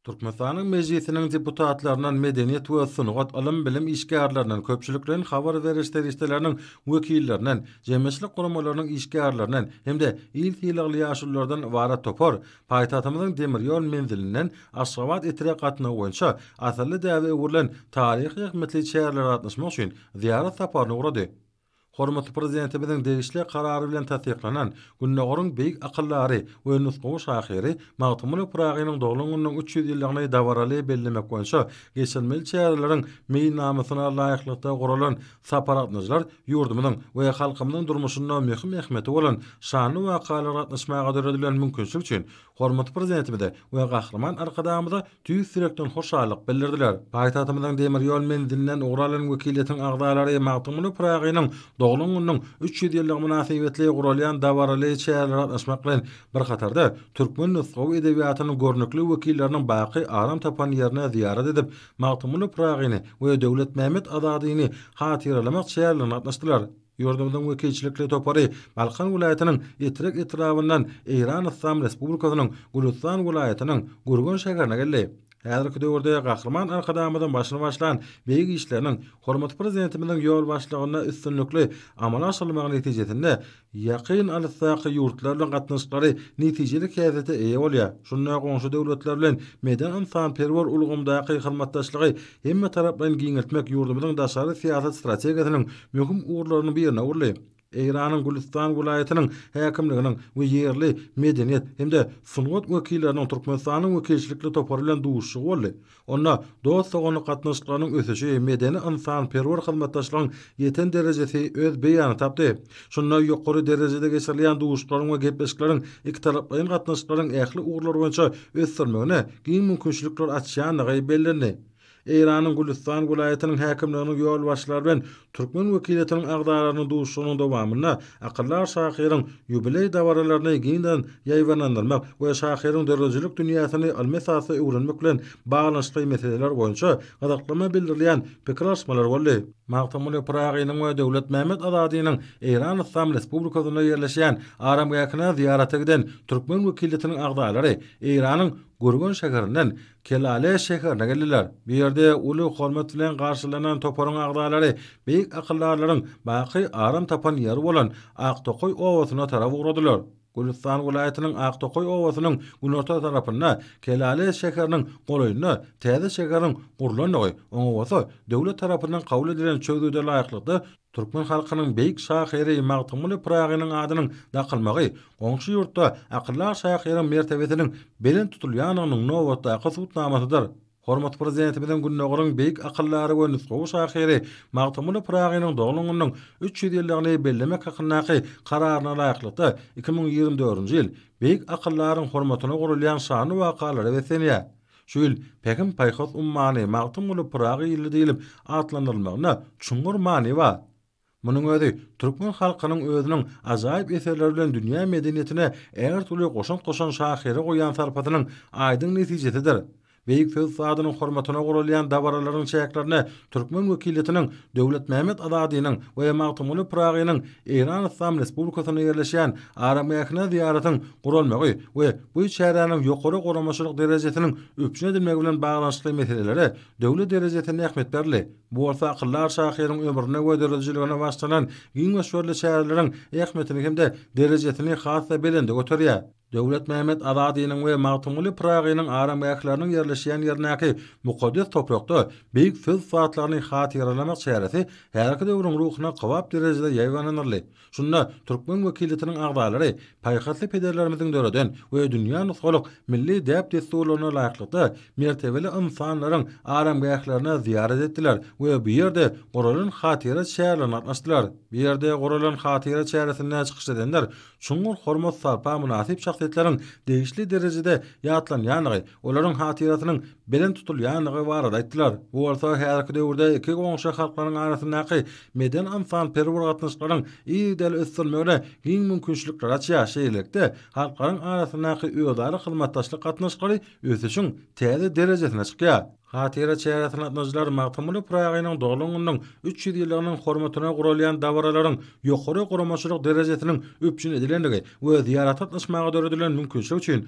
Türkmenistanyň Mejlisiniň deputatlaryndan, medeniýet we sungat, ylym-bilim işgärlerinden, köpçülikleýin habar beriş serişdeleriniň wekillerinden, jemgyýetçilik guramalarynyň işgärlerinden hem-de il sylagly ýaşululardan ybarat topar paýtagtymyzyň demir ýol menzilinden Aşgabat etre gatnawy boýunça asylly däbe öwrülen taryhy-zähmetli çärelere gatnaşmak üçin zyýarat saparyna ugrady. Hormatly Prezidentimiziň degişli Karary bilen tassyklanan Gündogaryň beýik akyldary we nusgawy şahyry Magtymguly Pyragynyň doglan gününiň üç ýüz ýyllygyny dabaraly bellemek boýunça geçirilmeli çäreleriň meýilnamasyna laýyklykda guralan sapar gatnaşyjylar ýurdumyzyň we halkymyzyň durmuşynda möhüm ähmiýeti bolan şanly wakalara gatnaşmaga döredilen mümkinçilik üçin Hormatly Prezidentimize we Gahryman Arkadagymyza tüýs ýürekden hoşallyk bildirdiler. Paýtagtymyzyň demir ýol menzilinden ugur alan wekiliýetiň agzalary Magtymguly Pyragynyň doglan gününiň üç ýüz ýyllygy mynasybetli guralýan dabaraly çärelere gatnaşmak bilen bir hatarda, türkmen nusgawy edebiýatynyň görnükli wekilleriniň baky aram tapan ýerine zyýarat edip, Magtymguly Pyragyny we Döwletmämmet Azadyny hatyralamak çärelerine gatnaşdylar. Ýurdumyzyň wekilçilikli topary Balkan welaýatynyň Etrek etrabyndan Eýran Yslam Respublikasynyň Gülüstan welaýatynyň Gürgen şäherine geldi. Häzirki döwürde Gahryman Arkadagymyzyň başyny başlan beýik işleriniň hormatly Prezidentimiziň ýolbaşçylygynda üstünlikli amala aşyrylmagy netijesinde ýakyn alysdaky ýurtlar bilen gatnaşyklary netijeli häsiýete eýe bolýar, şunda goňşy döwletler bilen medeni-ynsanperwer ulgamdaky hyzmatdaşlygy hemmetaraplaýyn giňeltmek ýurdumyzyň daşary syýasat strategiýasynyň möhüm ugurlarynyň birine öwrüldi. Eýranyň Gülüstan welaýatynyň häkimliginiň we ýerli medeniýet hem-de sungat wekilleriniň Türkmenistanyň wekilçilikli topary bilen duşuşygy boldy. Onda dost-doganlyk gatnaşyklarynyň ösüşi, medeni-ynsanperwer hyzmatdaşlygyň ýeten derejesi öz beýanyny tapdy. Şunda ýokary derejede geçirilýän duşuşyklaryň we gepleşikleriň ikitaraplaýyn gatnaşyklaryň ähli ugurlar boýunça ösdürilmegine giň mümkinçilikler açýandygy bellendi. Eýranyň Gülüstan welaýatynyň häkimliginiň ýolbaşçylary bilen türkmen wekiliýetiniň agzalarynyň duşuşygynyň dowamynda akyldar şahyryň ýubileý dabaralaryny giňden ýaýbaňlandyrmak we şahyryň döredijilik dünýäsini ylmy esasda öwrenmek bilen baglanyşykly meseleler boýunça gyzyklanma bildirilýän pikir alyşmalar boldy. Magtymguly Pyragynyň we Döwletmämmet Azadynyň Eýran Yslam Respublikasynda ýerleşýän aramgähine zyýarata giden türkmen wekiliýetiniň agzalary Eýranyň Gürgen şäherinden Kelale şäherine geldiler. Bu ýerde uly hormat bilen garşylanan toparyň agzalary beýik akyldarlaryň baky aram tapan ýeri bolan Aktokaý obasyna tarap ugradylar. Gülüstan welaýatynyň Aktokaý obasynyň günorta tarapynda, Kelale şäheriniň golaýynda täze şäheriň gurlandygy, oňa bolsa döwlet tarapyndan kabul edilen çözgüde laýyklykda türkmen halkynyň beýik şahyry Magtymguly Pyragynyň adynyň dakylmagy goňşy ýurtda akyldar şahyryň mertebesiniň belent tutulýandygynyň nobatdaky subutnamasydyr. Hormatly Prezidentimiziň Gündogaryň beýik akyldary we nusgawy şahyry Magtymguly Pyragynyň doglan gününiň üç ýüz ýyllygyny bellemek hakyndaky Kararyna laýyklykda, iki müň ýigrimi dördünji ýyl beýik akyldaryň hormatyna guralýan şanly wakalara beslenýär. Şu ýyl Pähim-paýhas ummany Magtymguly Pyragy ýyly diýlip atlandyrylmagynda çuňňur many bar. Munuň özi türkmen halkynyň özüniň ajaýyp eserleri bilen dünýä medeniýetine ägirt uly goşant goşan şahyra goýýan sarpasynyň aýdyň netijesidir. Beýik söz ustadynyň hormatyna guralýan dabaralaryň çäklerine türkmen wekiliýetiniň Döwletmämmet Azadynyň we Magtymguly Pyragynyň Eýran Yslam Respublikasynda ýerleşýän aramgähine zyýaratyň guralmagy we bu çäräniň ýokary guramaçylyk derejesiniň üpjün edilmegi bilen baglanyşykly meselelere döwlet derejesinde ähmiýet berildi. Bu bolsa akyldar şahyryň ömrüne we döredijiligine başlanan giň möçberli çäreleriň ähmiýetini hem-de derejesini has-da belende göterýär. Döwletmämmet Azadynyň we Magtymguly Pyragynyň aramgähleriniň ýerleşýän ýerindäki mukaddes toprakda beýik söz ussatlary-ny hatyralamak çäresi häzirki döwrüň ruhuna kybap derejede ýaýbaňlanyldy. Şunda türkmen wekiliýetiniň agzalary paýhasly pederlerimiziň döreden we dünýä nusgalyk milli däp-dessurlaryna laýyklykda mertebeli ynsanlaryň aramgählerine zyýarat etdiler we bu ýerde guralan hatyra çärelerine gatnaşdylar. Bu ýerde guralan hatyra çäresinde çykyş edenler çuňňur hormat-sarpa mynasyp şahsyýetleriň degişli derejede ýatlanýandygy, olaryň hatyrasynyň belent tutulýandygy barada aýtdylar. Bu bolsa häzirki döwürde iki goňşy halklaryň arasyndaky medeni-ynsanperwer gatnaşyklaryň yzygiderli ösdürilmegine giň mümkinçilikleri açýar, şeýlelikde, halklaryň arasyndaky özara hyzmatdaşlyk gatnaşyklary ösüşiň täze derejesine çykýar. Hatyra çäresine gatnaşyjylar Magtymguly Pyragynyň doglan gününiň üç ýüz ýyllygynyň hormatyna guralýan dabaralaryň ýokary guramaçylyk derejesiniň üpjün edilendigi we zyýarata gatnaşmaga döredilen mümkinçilik üçin